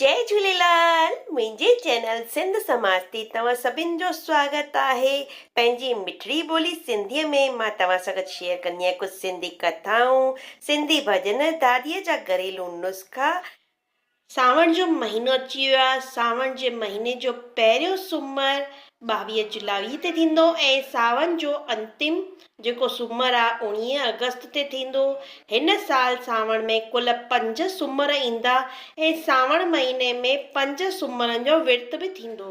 جئي جهوليلال منهنجي چينل سنڌ سماج تي توهان سڀن جو سواگت آهي پنهنجي مٺڙي ٻولي سنڌي ۾ مان توهان سان گڏ شيئر ڪندي آهيان ڪجهه سنڌي ڪٿائون سنڌي ڀڄن داديء جا گهريلو نسخا سانوڻ جو مهينو اچي ويو آهي سانوڻ جي مهيني جو پهريون سومر ٻاويهه جولائي تي ٿيندو ۽ ساون جو انتم جيڪو سومر آ اوڻيهه آگسٽ تي ٿيندو. هن سال سانوڻ ۾ ڪل پنج سومر ايندا ۽ سانوڻ مهيني ۾ پنج سومرن جو ورت به ٿيندو.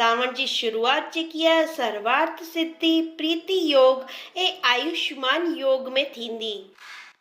سانوڻ جي شروعات جيڪي آ سروارٿ سڌي، پريتي يوگ ۽ آيوشمان يوگ ۾ ٿيندي.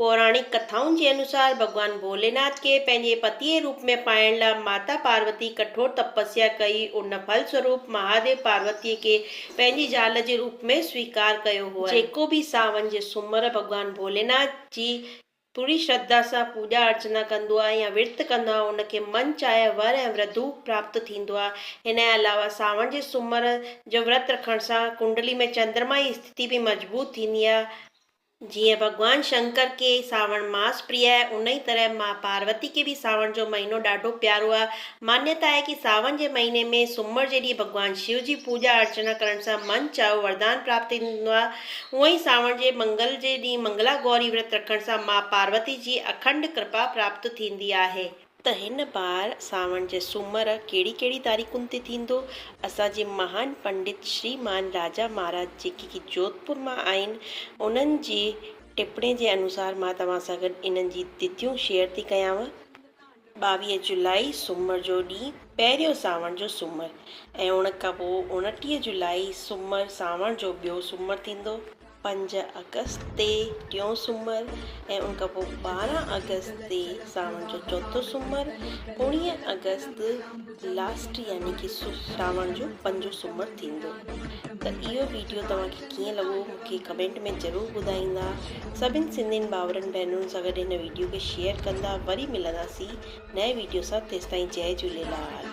پوراڻڪ ڪٿائن جي انوسار ڀڳوان ڀوليناٿ کي پنهنجي پتيء جي روپ ۾ پائڻ لاء ماتا پاروتي ڪٺور تپسيا ڪئي، ان ڦل سوروپ مهاديو پاروتيء کي پنهنجي زال جي روپ ۾ سويڪار ڪيو هئائين. جيڪو به ساون جي سومر ڀڳوان ڀوليناٿ جي پوري شرڌا سان پوڄا ارچنا ڪندو آهي يا ورت ڪندو آهي ان کي من چاهيا ور ۽ وڌو پراپت ٿيندو آهي. هن جي علاوه ساون جي سومر جو ورت رکڻ سان ڪنڊلي ۾ چندرما جي استٿي به مضبوط ٿيندي آهي. جيئن ڀڳوان شنڪر کي ساوڻ ماس پريا آهي، ان ئي طرح ماء پاروتي کي به ساوڻ جو مهينو ڏاڍو پيارو آهي. مانيتا آهي ڪي ساون جي مهيني ۾ سومر جي ڏينهن ڀڳوان شو جي پوڄا ارچنا ڪرڻ سان من چاهيو وردان پراپت ٿيندو آهي. هونء ئي ساوڻ جي منگل جي ڏينهن منگلا گوري ورت رکڻ سان ماء پاروتي جي اکنڊ ڪرپا پراپت ٿيندي آهي. ته هن بار سانوڻ جي سومر ڪهڙي ڪهڙي تاريخن تي ٿيندو؟ اسان جي مهان پنڊت شريمان راجا مهاراج جيڪي ڪي جوڌپور مان آهن انهن جي ٽپڻي جي انوسار مان توهان سان گڏ انهن جي تٿيون شيئر ٿي ڪيانو. ٻاويهه جولائي سومر جو ڏينهن پهريون سانوڻ جو سومر ۽ ان کان پوء اڻٽيهه جولائي سومر سانوڻ جو ٻيو سومر ٿيندو. پنج آگسٽ تي ٽيون سومر ۽ ان کان پوء ٻارهن آگسٽ تي ساوڻ جو چوٿون سومر اوڻيهه آگسٽ لاسٽ يعني ڪي ساوڻ جو پنجون سومر ٿيندو ته اهو ويڊيو توهان کي ڪيئن لڳو مون کي ڪمينٽ ۾ ضرور ٻڌائيندا سڀن سنڌين ڀاورن ڀينرن سان گڏ هن ويڊيو کي شيئر ڪندا وري ملنداسين نئين ويڊيو سان تيستائين جئي جهوليلال